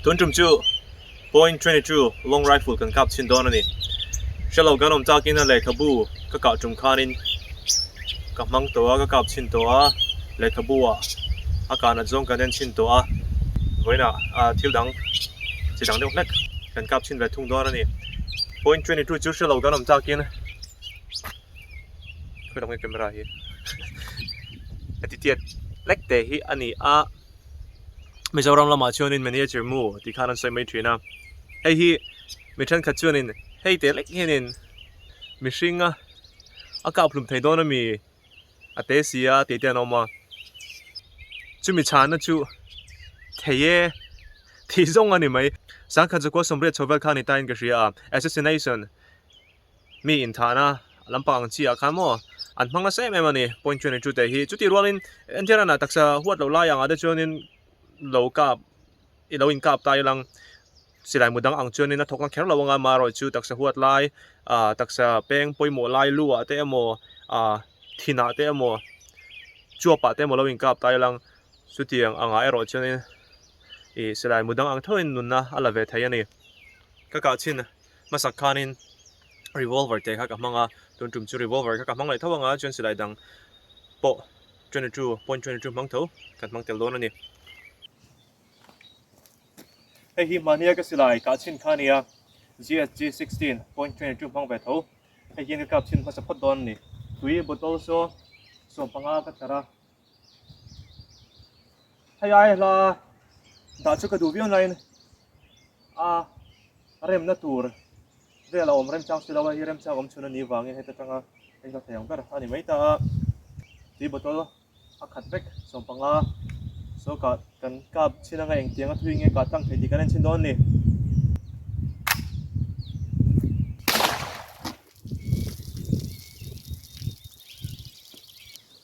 Tun tum chu point twenty two long rifle kan kap chhin dawn a ni. Hre lo kan awm takin a lehkhabu ka kah tum khanin ka hmang tawh a ka kap chhin tawh a lehkhabu ah a kahna zawng kan en chhin tawh a vawiinah ah thil dang chi dang deuh hlek kan kap chhin ve thung dawn a ni. Point twenty two chu hre lo kan awm takin khawilawm nge camera hi a titiat hlek te hi a ni a. Mizoram lamah chuanin manager mu tih khan an sawi mai thin a, hei hi mi thenkhat chuanin hei te lek hianin mihringa a kaphlum thei dawn a mi a te si a tih te an awm a, chumi chhana chu thei e tih zawng a ni mai. Sangkhatzakual sawmriat chho vel kha a ni tain ka hria a, assassination. mi inthahna a lam pang ang chiah khan maw an hma nasa em em a ni point twenty two te hi chuti ruangin enthiar a na taksa huat loh lai angah te chuanin lo kap i lo inkap tai alang silai mu dang ang chuanin a thawkna kher lo anga marawih chu taksa huat lai ah taksa peng pawimawh lai lu ah te emaw ah thinah te emaw chuap ah te emaw lo inkap tai alang chuti ang angah erawh chuanin ih silai mudang ang theuhin nunna a la ve thei a ni ka kah chin. Hmasak khanin revolver te kha ka hmang a, tun tum chu revolver kha ka hmang leh tho anga chuan silai dang pawh twenty two point twenty two hmang tho kan hmang tel dawn a ni. Hei hi mahnia ka silai kah chhin kha a nia, GHG sixteen point twenty two hmang ve tho, hei hian ka kap chhin hmasa phawt dawn a ni, tui bottle chu sawmpanga ka tlar a. Hei ai hla dah chu ka duh viau nain a remna tur vel a awm rem chang si lo a, hei hi rem chang awm chhun a nih vangin heta tanga hei hla thei ang ber a ni mai ta a. Tui bottle a khat vek sawm panga saw kah kan kap chhin anga engtiang a thui nge kah tang thei tih kan en chhin dawn a ni.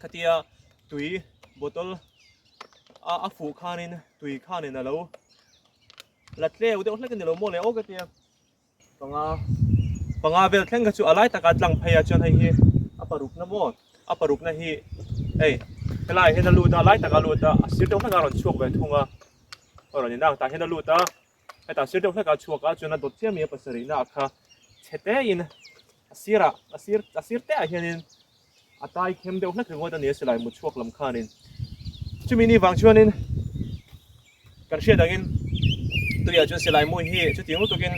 khatia tui bottle a a fuh khanin tui khanin alo la tleu deuh hlek ani lo maw leh ok atia panga panga vel thleng ka chu alai taka tlang phei a chuan hei hi a paruk na maw a paruk na hi ei helai hen a luta alai taka luta a sir deuh hleka rawn chhuak ve thung a aw rawn ina ta hen a luta heta sir deuh hleka chhuak a chuan a dawt chiah mi a pasarih na a kha chhe te in A sirah, a sir, a sir teh ah hianin a tai khem deuh hlat ringawt a ni a si lai mu chhuak lam khanin. Chumi ni vang chuanin kan hriat angin tuiah chuan silai mu hi chuti ngu tukin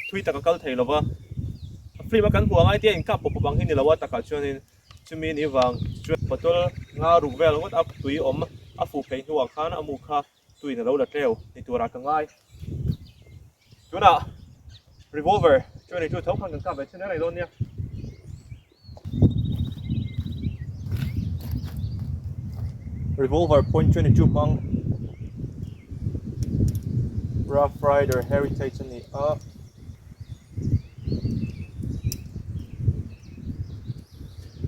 thui taka kal thei lova film a kan hmuh angai tia inkap pawp pawp ang hi ni lo a takah chuanin chumi ni vang chu bottle nga ruk vel ngawt a tui awm a fuh phei hnuah khan a mukha tuin a lo la tleu ni turah ka ngai. Tunah revolver twenty two thawk khan kan kap ve thin reng reng dawn nia. Revolver point twenty two hmang Rough Rider Heritage ani a.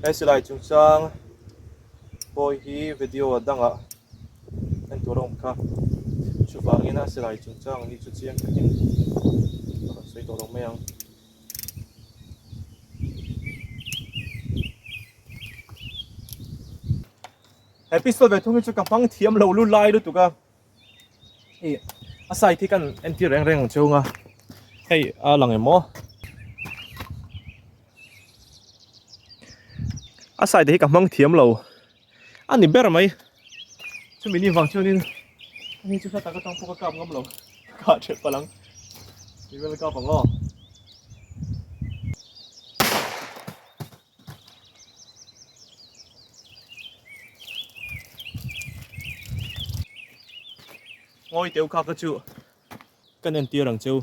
Esilai chung chang boy hi video a dang a. Entur awm kha. Chuvangin a silai chungchang hi chu chiang takin a rawn sawi tawh lo mai ang. He pistol ve thung hi chu ka hmang thiam lo lu lai lutuk a. I a sight hi kan entir reng reng ang chhung a. Hei a lang emaw. A sight hi ka hmang thiam lo. A ni ber mai. Chumi ni vang chuanin ani chu hla tak atang pawk a kap ngam lo. Kah ṭheh palh ang. Kei vel a kap ang aw. Ngawi teuh kha ka chu kan entir ang chu.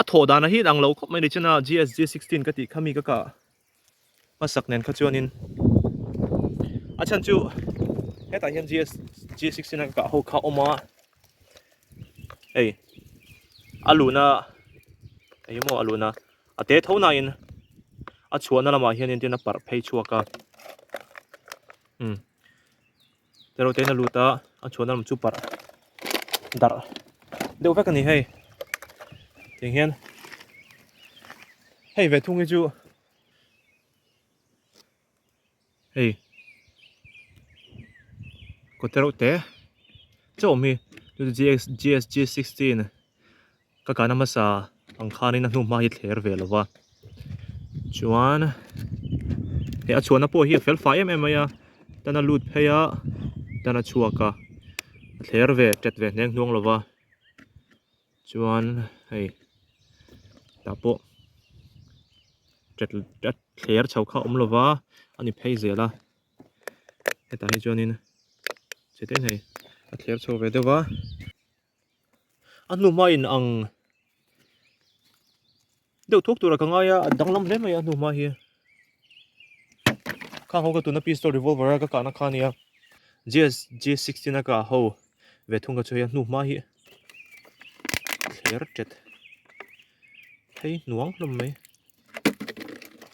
A thawh dan ah hi ang lo khawp mai ni che na g s g sixteen ka tih kha mi ka kah a hmasak nen kha chuan in a chhan chu hetah hian g s g sixteen a ka kah ho kha a awm a hei a luhna eng emaw a luhna. a te tho na in a chhuahna lamah hian in tin a parh phei chhuak a umm eruhte in a lut a a chhuahna lam chu parh darh deuh vek a ni hei tiang hian hei ve thung hi chu hei kawtah reuh te chauh mi gsg sixteen ka kahna hmasa ang khan in a hnungah hi a thler ve lova chuan a chhuahna pawh hi a felfai em em mai a tan a lut phei a tan a chhuak a a thler ve a tet ve hneng hnuang lova. Chuan hei tah pawh thler chho kha awm lova a ni phei zel a hetah hi chuanin chete nei a thler chho ve deuh va a hnuma in ang. Deuh thuk tura ka ngai a, a danglam hle mai a hnu hma hi. Khang ho ka tuna pistol revolver a ka kahna kha nia. GS G16 a kah ho ve thung ka chu hei a hnu hma hi. Thler tet. Hei nuang hlawm mai.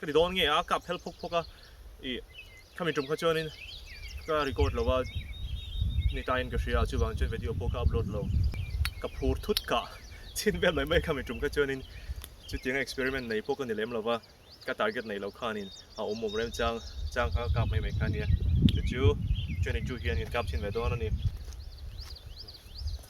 Ka ti dawn nge a, ka phel phawk phawk a, ih khami tum kha chuanin ka record lo va, ni taiin ka hria, chuvang chuan video pawh ka upload lo. Ka phur thut kah chhin ber mai mai khami tum kha chuanin chutianga experiment nei pawh ka ni lem lo va, ka target nei lo khanin a awm awm reng chang chang kha ka kap mai mai kha nia, chu chu training chu hian in kap chhin ve dawn a ni.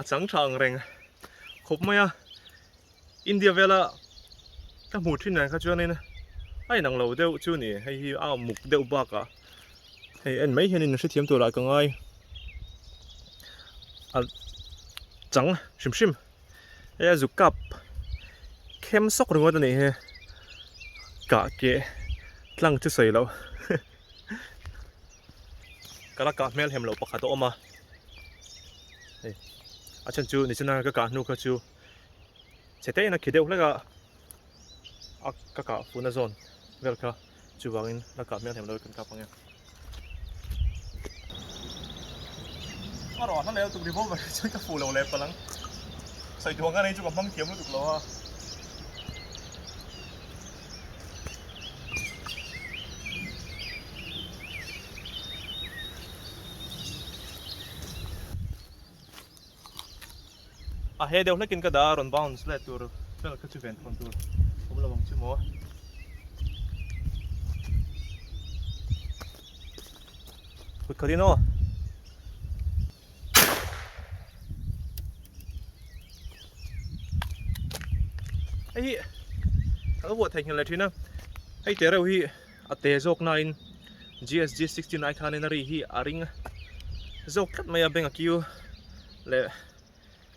a chang tha ang reng khawp mai a India vela ka hmu thin dan kha chuanin a inang lo deuh chu ni hei hi a muk deuh bakah hei en mai hianin hrethiam tur ah ka ngai a chang hrim hrim hei a zuk kap khem sawk ringawt a nih hi kah keh tlang chu sawi lo ka la kah hmelhem lo pakhat a awm a hei a then chu nichina ka kah hnu kha chu chhete in a khi deuh hlek a a ka kah funa zawn vel kha chuvang in la kah mial hnem lo kan kap ang e araw a hla leh lutuk revolver hi chuan ka fuh lo leh palang sawi duang ka nei chu ka hmang thiam lutuk lo a a he deuh hlekin ka da rawn bounce let tur fel kha chu ven thawn tur awm lo ang chu maw kut khatin aw hei hi a lo vuah thei nghilh leh thin a hei te reuh hi a te zawk na in gsg sixty nine khan in a ri hi a ring zawk tlat mai a bank a queue leh--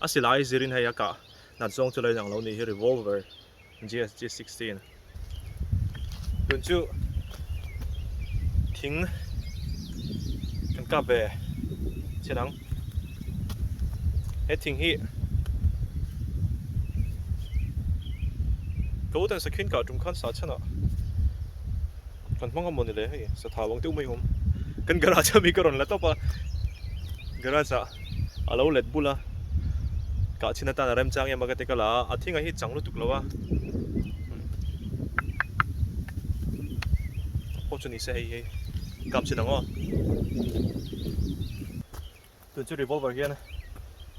A silai zirin hei a kah nat zawng chu lo inang lo nih hi revolver GSG sixteen tun chu thing kan kap ve chin ang he thing hi ka uten sakhin kah tum khan sa chhan a. kan hmang a maw nile hei satha bang deuh mai awm kan garage ami ka rawn la tawp a garage ah a lo let bul a kah chhin atan a rem chang em a ka ti ka la a a thing a hi chang lutuk lo a pawh chu ni se hei hei kam chin ang aw tun chu revolver hian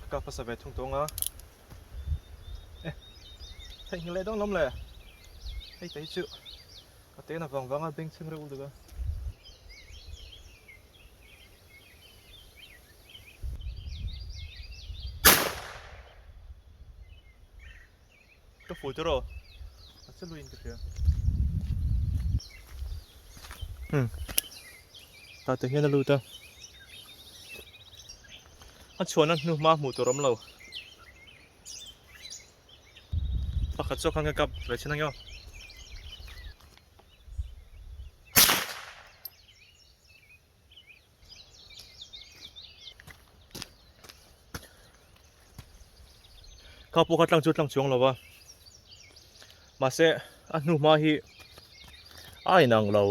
ka kap pasa ve thung tawng a eh theih nghal leh dawn hlawm le hei te hi chu A te na vang vang a beng chheng reuh uluk a. Ka full te ro. A chu luin ka hria. Hmm. Ta te hian a lu ta. A chuan an hnu ma hmu tur om lo. Pakhat chu khan ka kap ve chin angio. Kha pu kha tlang chu tlang chuang lova. Mà sẽ a hnu hma hi ai nang lo.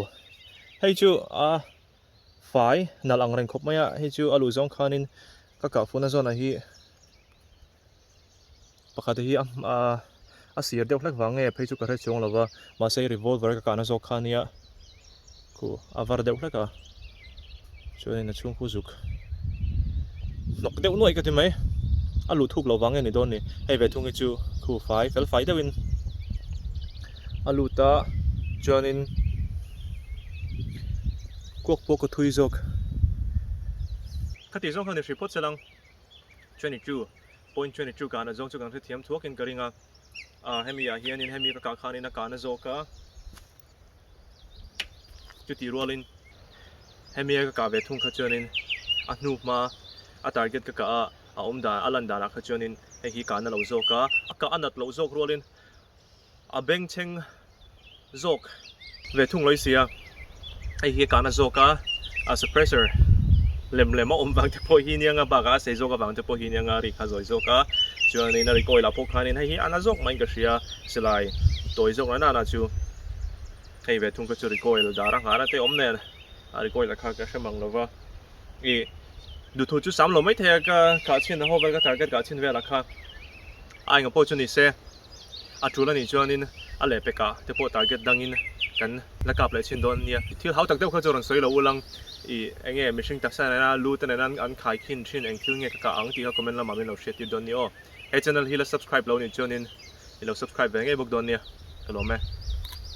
Hei chu a fai nal ang reng khawp mai a hei chu a luh zawng khanin ka kah funa zawnah hi pakhat hi a sir deuh hlek vang nge phei chu ka hre chuang lo va mahse i revolver ka kahna zawk khan nia khu a var deuh hlek a chuan in a chhungkua zuk hnawk deuh nuaih ka ti mai a luh thuk lo vang nge ni dawn ni hei ve thung hi chu khu fai fel fai deuh in a lut a chuan in kuak pawh ka thui zawk khati zawk hian i hriphawt che lang. twenty two point twenty two kahna zawng chu kan hrethiam thuakin ka ring a a hemi ah hian in hemi ka kah khan in a kahna zawk a chuti rual in hemi a ka kah ve thung kha chuan in a hnu hma a target ka kah a a awm dan a lan dan ah kha chuan in hei hi kahna lo zawk a a kah a nat loh zawk rual in A bengchheng zawk ve thung lawi si a, hei hi kahna zawka a suppressor lem lem a awm vang te pawh hi nia nga, bak ah a sei zawk avang te pawh hi nia nga ri kha zawi zawk a, chuanin a recoil ah pawh khanin hei hi ana zawk mahin ka hria, silai tawi zawk loh nanah chu hei ve thung kha chu recoil dar a nghar a, te awm nen a recoil ah kha ka hre mang lova, i duhthu chu sam lo maithei a, ka khah chhin a ho vel ka target kah chhin velah kha a enga pawh chu ni se. A tul a nih chuanin a leh peka te pawh target dangin kan la kap leh chin dawn a nia. Thil hautak deuh kha chu rawn sawi lo ulang i, enge mihring taksa nena lu te nena an khai khin thin eng thil nge ka kah ang tih kha comment lamah min lo hriat tir dawn ni aw. He channel hi la subscribe lo nih chuanin i lo subscribe ve ngei bawk dawn nia. Ka lawm e.